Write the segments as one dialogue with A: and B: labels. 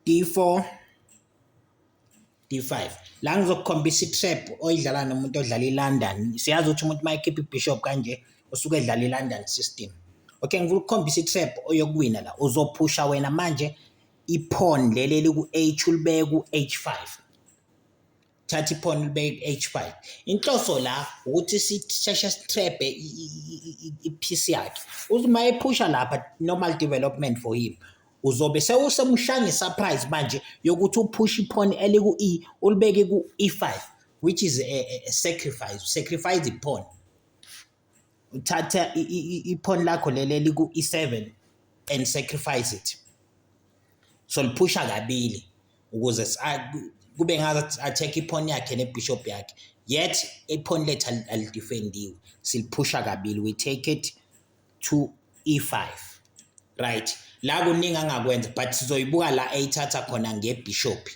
A: D4 D5 la ngizokukhombisa i-trap oyidlala nomuntu odlala i-London siyazi ukuthi umuntu uma ekhipha i-bishop kanje usuke edlala i-London system okay ngifuna ukukhombisa i-trap oyokuwina la uzophusha wena manje iphone leli eliku-H ulibeke ku-H5 thatha iphone libeke ku-H5 inhloso la ukuthi sisheshe sithrebhe i-piece yakhe uthi uma ephusha lapha normal development for him uzobe sewusemshanga isurprise manje yokuthi uphushe iphone eliku-E ulibeke ku-E5 which is a, a, a sacrifice sacrifice iphone uthatha iphone lakho leli eliku-E7 and sacrifice it so liphusha kabili ukuze kube ngathi acheck iphone yakhe nebishop yakhe yet iphone lethu alidefendiwe siliphusha kabili we take it to e5 right la kuningi angakwenza but sizoyibuka la eyithatha khona ngebishop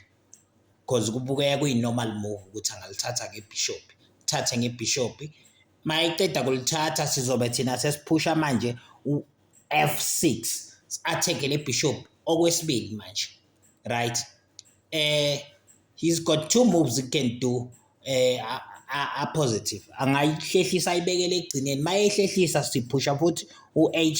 A: cause kubukeka kuyi-normal move ukuthi angalithatha ngebhishobhi thathe ngebhishobhi mayiqeda kulithatha sizobe thina sesiphusha manje u-f6 si-atheke le bishop okwesibili manje right eh he's got two moves he can do eh a positive angayihlehlisa ayibekele ekugcineni mayehlehlisa siphusha futhi u-h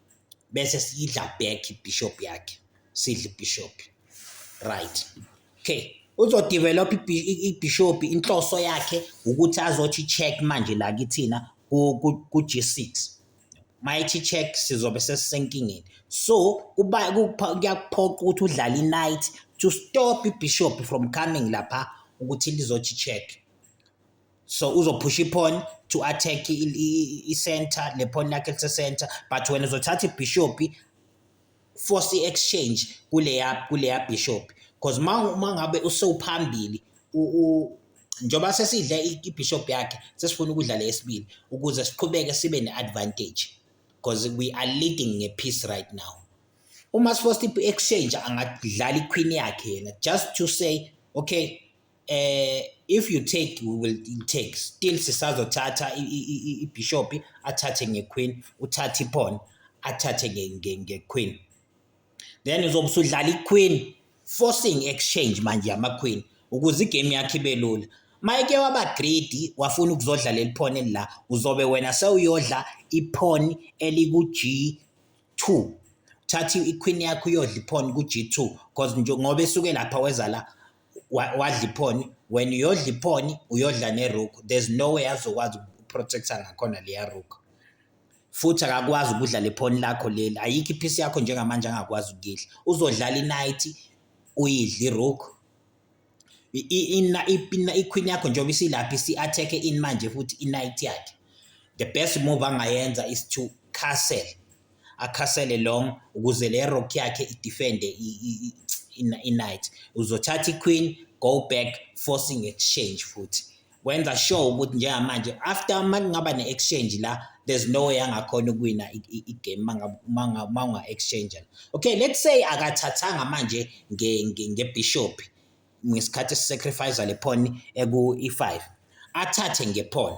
A: bese sidla back ibishop yakhe sidla ibishop right okay uzodevelop ibishop inhloso yakhe ukuthi azothi check manje la kithina ku G6 mayithi check sizobe sesisenkingeni so kuba kuyakuphoqa ukuthi udlale i-night to stop ibishop from coming lapha ukuthi lizothi check so uzophusha iphoni to attack i-center lephoni lakhe lise-center but wena uzothatha ibhishophi force i-exchange kuleya kuleya bishop because uma ngabe usewuphambili njengoba sesidle ibishop yakhe sesifuna ukudla le yesibili ukuze siqhubeke sibe ne-advantage because we are leading nge-peace right now uma sifosta i-exchange angadlala iqueen yakhe yena just to say okay eh if you take we will take still sisazothatha ibishop athathe ngequeen uthathe ipawn athathe ngequeen then uzobe usudlala iqueen forcing exchange manje yamaqueen ukuze igame yakhe ibe lula mayeke waba greedy wafuna ukuzodlala eliphone la uzobe wena sewuyodla iphone eliku G2 thatha iqueen yakho uyodla iphone ku G2 because nje ngoba esuke lapha weza la wadla iphoni when uyodla iphoni uyodla neruku there's no way azokwazi ukuprotecta ngakhona leya ruku futhi akakwazi ukudla lephoni lakho leli ayikho iphisi yakho njengamanje angakwazi ukuyidla uzodlala inight uyidla iruku ikhwini yakho njengoba isilapha isi-attack-e ini manje futhi inight yakhe the best move angayenza is to castle akhasele long ukuze le rock yakhe idefende i-knight uzothatha i-queen go back forcing exchange futhi kwenza sure ukuthi njengamanje after uma kungaba ne-exchange la there's no way angakhona ukuwina i-game uma unga-exchange okay let's say akathathanga manje ngebishop ngesikhathi esisacrifice le phone eku-e5 athathe ngephone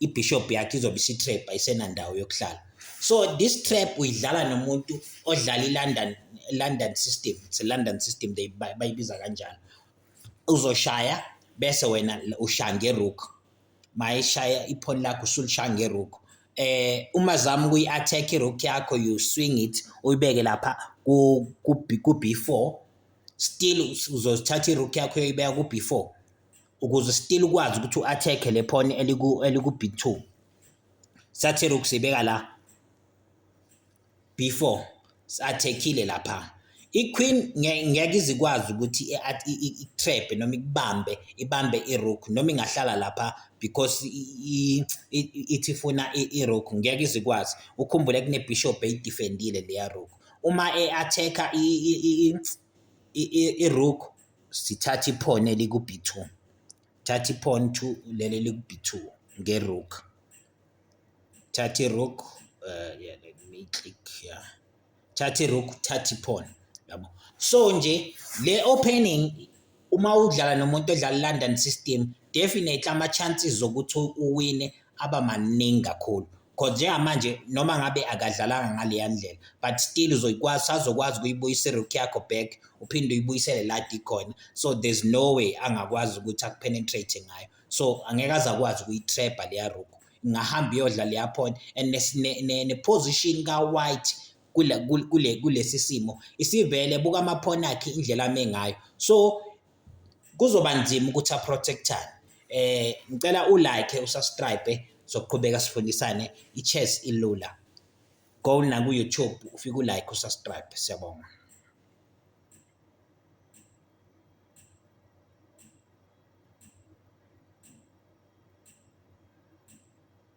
A: ibishop yakhe izobe isitrap ayisenandawo yokuhlala so this trap uyidlala nomuntu odlala ilondon london system it's a london system they bayibiza kanjalo uzoshaya bese wena ushaya ngerook mayishaya iphoni lakho usulishaya ngerook eh uma zama kuyi attack irook yakho you swing it uyibeke lapha ku ku B4 still uzothatha irook yakho uyibeka ku B4 ukuze still ukwazi ukuthi u-attack le pawn eliku eliku b2 sathela ukusibeka la b4 sathekile lapha iqueen ngeke izikwazi ukuthi i-trap noma ikubambe ibambe irook noma ingahlala lapha because ithi ifuna irook ngeke izikwazi ukhumbule kunebishop eyidefendile leya rook uma e-attack irook sithatha iphone eliku-b two thatha iphone two leli eliku-b two nge-rook thatha i-rook uh, yeah, let me click yeah. thatha i-rook thatha iphone yabo so nje le opening uma udlala nomuntu odlala i-london system definitely ama chances zokuthi uwine aba maningi kakhulu cause njengamanje noma ngabe akadlalanga ngaleya ndlela but still uzoyikwazi sazokwazi ukuyibuyisa irook yakho back uphinde uyibuyisele la dikhona so there's no way angakwazi ukuthi akupenetrate ngayo so angeke aze akwazi ukuyitrapha leya rook ingahamba iyodla leya pawn and neposition ne, ne, ne ka-white kule, kule, kulesi simo isivele buka amaphoni akhe indlela ame ngayo so kuzoba nzima ukuthi aprotectane eh ngicela u like usubscribe sokuqhubeka sifundisane ichess ilula go na ku YouTube ufike u like usubscribe siyabonga